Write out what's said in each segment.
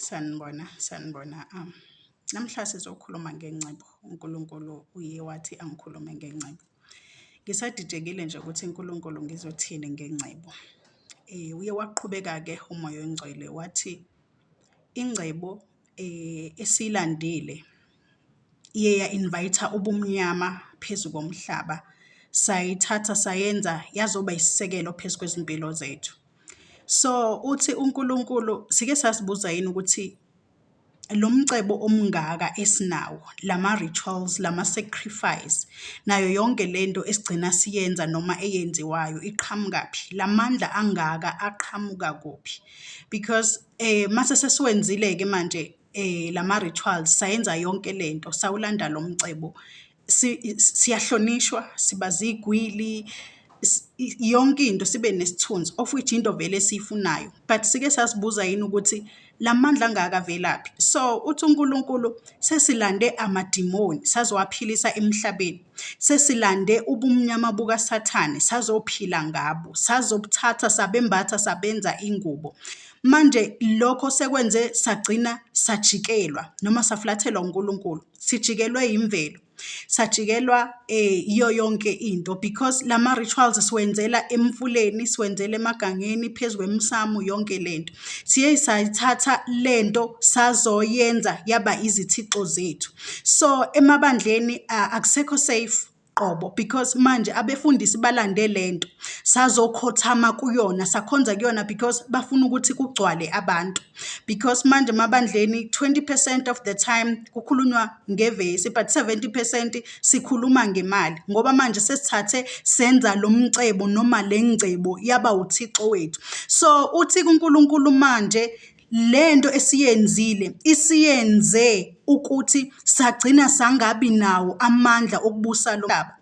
sanibona sanibona um namhla sizokhuluma ngengcebo unkulunkulu uye wathi angikhulume ngengcebo ngisadidekile nje ukuthi unkulunkulu ngizothini ngengcebo um uye waqhubeka-ke umoya oyingcwele wathi ingcebo eh, esilandile iye ya-invayitha ubumnyama phezu komhlaba sayithatha sayenza yazoba isisekelo phezu kwezimpilo zethu so uthi uNkulunkulu sike sasibuza yini ukuthi lo mcebo omngaka esinawo lama rituals lama sacrifice nayo yonke lento esigcina siyenza noma eyenziwayo iqhamukaphi lamandla angaka aqhamuka kuphi because Eh mase sesiwenzile ke manje eh lama rituals sayenza yonke lento sawulanda lo mcebo siyahlonishwa siba zigwili yonke into sibe nesithunzi of which into vele esiyifunayo but sike sasibuza yini ukuthi la mandla angaka avelaphi so uthi uNkulunkulu sesilande amadimoni sazowaphilisa emhlabeni Sesilande ubumnyama bukaSathane, sazophila ngabo, sazobuthatha, sabembatha, sabenza ingubo. Manje lokho sekwenze sagcina sajikelwa noma safulathelwa uNkulunkulu, sijikelwe imvelo, sajikelwa eh iyo yonke into because lama rituals siwenzela emfuleni, siwenzela emagangeni, phezu kwemsamu, yonke lento. Siye sayithatha lento sazoyenza yaba izithixo zethu. so emabandleni akusekho safe qobo because manje abefundisi balande le nto sazokhothama kuyona sakhonza kuyona because bafuna ukuthi kugcwale abantu because manje emabandleni 20 percent of the time kukhulunywa ngevesi but 70 percent sikhuluma ngemali ngoba manje sesithathe senza lo mcebo noma le ngcebo yaba uthixo wethu so uthi kunkulunkulu manje Le nto esiyenzile isiyenze ukuthi sagcina sangabi nawo amandla okubusa lo mhlaba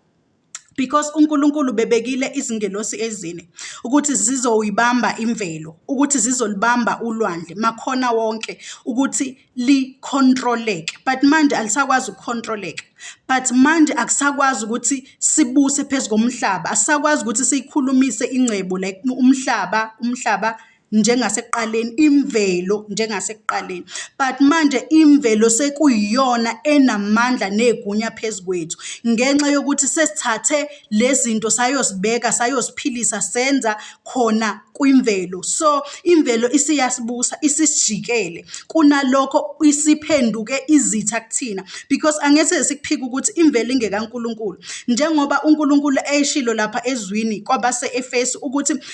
because uNkulunkulu bebekile izingelosi ezine ukuthi zizoyibamba imvelo ukuthi zizolibamba ulwandle makhona wonke ukuthi licontroleke but manje alisakwazi ukucontroleka but manje akusakwazi ukuthi sibuse phezu komhlaba asisakwazi ukuthi siyikhulumise ingcebo like umhlaba umhlaba njengasekuqaleni imvelo njengasekuqaleni but manje imvelo sekuyiyona enamandla negunya phezu kwethu ngenxa yokuthi sesithathe lezinto sayosibeka sayosiphilisa senza khona kwimvelo so imvelo isiyasibusa isisijikele kunalokho isiphenduke izitha kuthina because angese sikuphika ukuthi imvelo ingekaNkulunkulu njengoba uNkulunkulu eyishilo lapha ezwini kwabase-Efesu ukuthi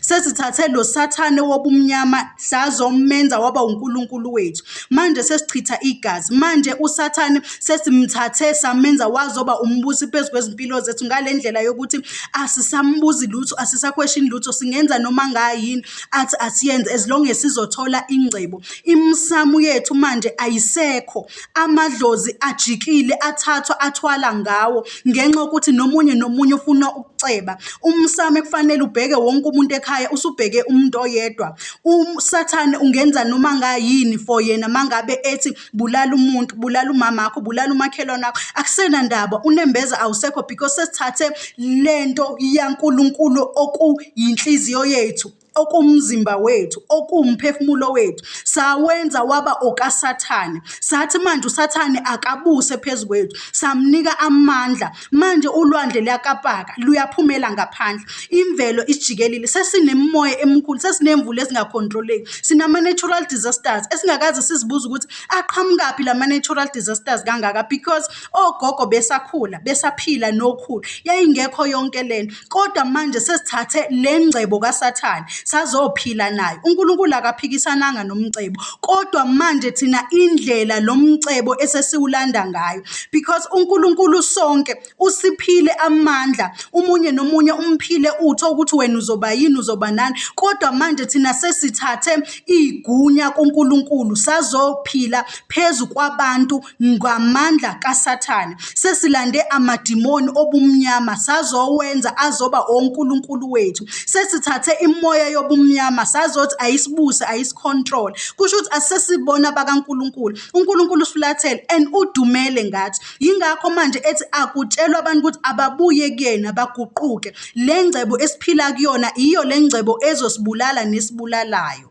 Sesithathe lo sathane wobumnyama sazomenza waba uNkulunkulu wethu. Manje sesichitha igazi. Manje usathane sesimthathe samenza wazoba umbusi phezu kwezimpilo zethu ngale ndlela yokuthi asisambuzi lutho, asisakhweshini lutho, singenza noma ngayini athi asiyenze as long as sizothola ingcebo. Imisamu yethu manje ayisekho. amadlozi ajikile athathwa athwala ngawo ngenxa yokuthi nomunye nomunye ufuna ukuceba. Umsame kufanele ubheke wonke umuntu ekhaya usubheke umuntu oyedwa. Usathane ungenza noma ngayini for yena mangabe ethi bulala umuntu, bulala umamakho, bulala umakhelwane wakho, akusena ndaba unembeza awusekho because sesithathe lento yaNkulunkulu okuyinhliziyo yethu. okumzimba wethu okuwumphefumulo wethu sawenza waba okasathane sathi manje usathane akabuse phezu kwethu samnika amandla manje ulwandle luyakapaka luyaphumela ngaphandle imvelo isijikelile sesinemimoya emikhulu sesinemvula ezingakhontroleki sinama-natural disasters esingakaze sizibuze ukuthi aqhamukaphi la ma-natural disasters kangaka because ogogo besakhula besaphila nokhulu yayingekho yonke lento kodwa manje sesithathe le ngcebo kaSathane sazophila nayo. UNkulunkulu akaphikisananga nomcebo, kodwa manje thina indlela lo mcebo esesiwulanda ngayo because uNkulunkulu sonke usiphile amandla, umunye nomunye umphile utho ukuthi wena uzoba yini uzoba nani, kodwa manje thina sesithathe iy'gunya kuNkulunkulu sazophila phezu kwabantu ngamandla kaSathane. Sesilande amadimoni obumnyama sazowenza azoba onkulunkulu wethu. Sesithathe imoya yobumnyama sazothi ayisibuse ayisicontrol. Kusho ukuthi asesibona abakaNkulunkulu. UNkulunkulu usifulathele and udumele ngathi. Yingakho manje ethi akutshelwe abantu ukuthi ababuye kuyena baguquke. Le ngcebo esiphila kuyona iyo le ngcebo ezosibulala nesibulalayo.